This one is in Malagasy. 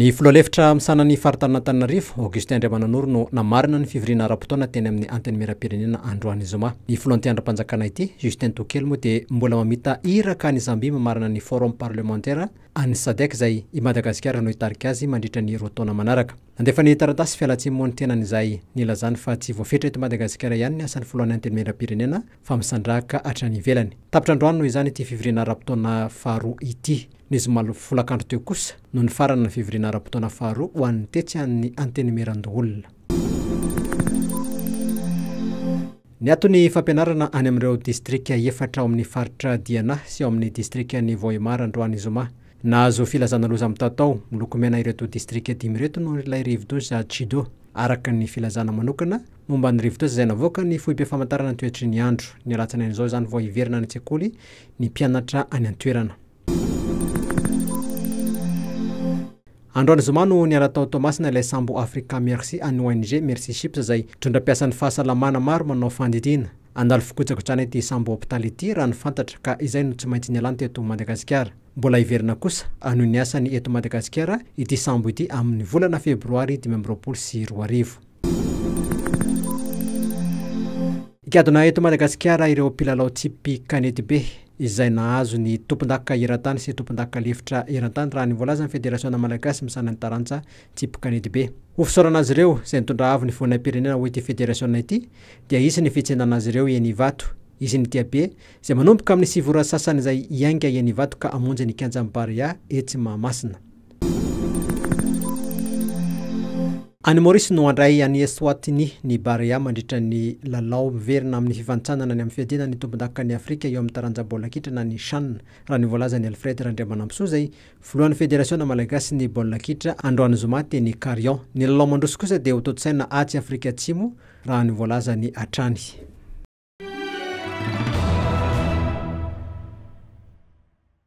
Ny filoha lefitra misahana ny faritanin'Antananarivo, Augustin Andriamananoro no namarana ny fivoriana ara-potoana teny amin'ny Antenimierampirenena androany zoma. Ny filoha anti-andrimpanjakana ity, Justin Tokely moa dia mbola mamita iraka any Zambie mamarana ny Forum parlementaire an'ny Sadec izay i Madagasikara no hitarika azy mandritra ny roa taona manaraka. Nandefa ny taratasy fialantsiny moa ny tenany izay nilazany fa tsy voafetra eto Madagasikara ihany ny asan'ny filohan'ny Antenimierampirenena fa misandrahaka hatrany ivelany. Tapitra androany noho izany ity fivoriana ara-potoana faharoa ity. Ny zoma folakandro teo kosa no nifarana ny fivoriana ara-potoana faharoa ho an'ny tetsy an'ny Antenimierandoholona. Niato ny fampianarana any amin'ireo distrika efatra ao amin'ny faritra Diana sy ao amin'ny distrikan'i Vohemar androany zoma. Nahazo filazana loza mitatao miloko mena ireto distrika dimy ireto noho ilay rivodoza Chido, araka ny filazana manokana Momba ny rivotra izay navoaka ny foibem-pamantarana ny toetry ny andro. Ny alatsinainy izao izany vao hiverina any an-tsekoly ny mpianatra any an-toerana. Androany zoma no niala tao Toamasina ilay sambo Africa Merci an'ny ONG Merci Ships izay mitondra mpiasan'ny fahasalamana maro manao fandidiana. Handalo fikojakojaana ity sambo hopitaly ity raha ny fantatra ka izay no tsy maintsy nialany teto Madagasikara. Mbola hiverina kosa hanohy ny asany eto Madagasikara ity sambo ity amin'ny volana febroary dimy amby roapolo sy roa arivo. Gadona eto Madagasikara ireo mpilalao tsipy kanetibe izay nahazo ny tompondaka eran-tany sy tompondaka lefitra eran-tany raha ny voalazan'ny Federasiona malagasy misahana ny taranja tsipy kanetibe. Ho fisaorana azy ireo izay nitondra avo ny voninahim-pirenena ho ity federasiona ity dia hisy ny fitsenana azy ireo eny Ivato. Hisy ny diabe izay manomboka amin'ny sivy ora sasany izay hiainga eny Ivato ka hamonjy ny kianjan'ny Barea etsy Mahamasina. Any Maorisy no handray an'i Eswatini ny Barea mandritra ny lalao miverina amin'ny fifantsanana ny amin'ny fiadiana ny tompondakan'i Afrika eo amin'ny taranja baolina kitra na ny Chan, raha ny voalazan'i Alfred Randriamanampisoa izay filohan'ny Federasiona malagasin'ny baolina kitra androany zoma teny Carion. Ny lalao mandroso kosa dia hotontosaina atsy Afrika Atsimo raha ny voalazany hatrany.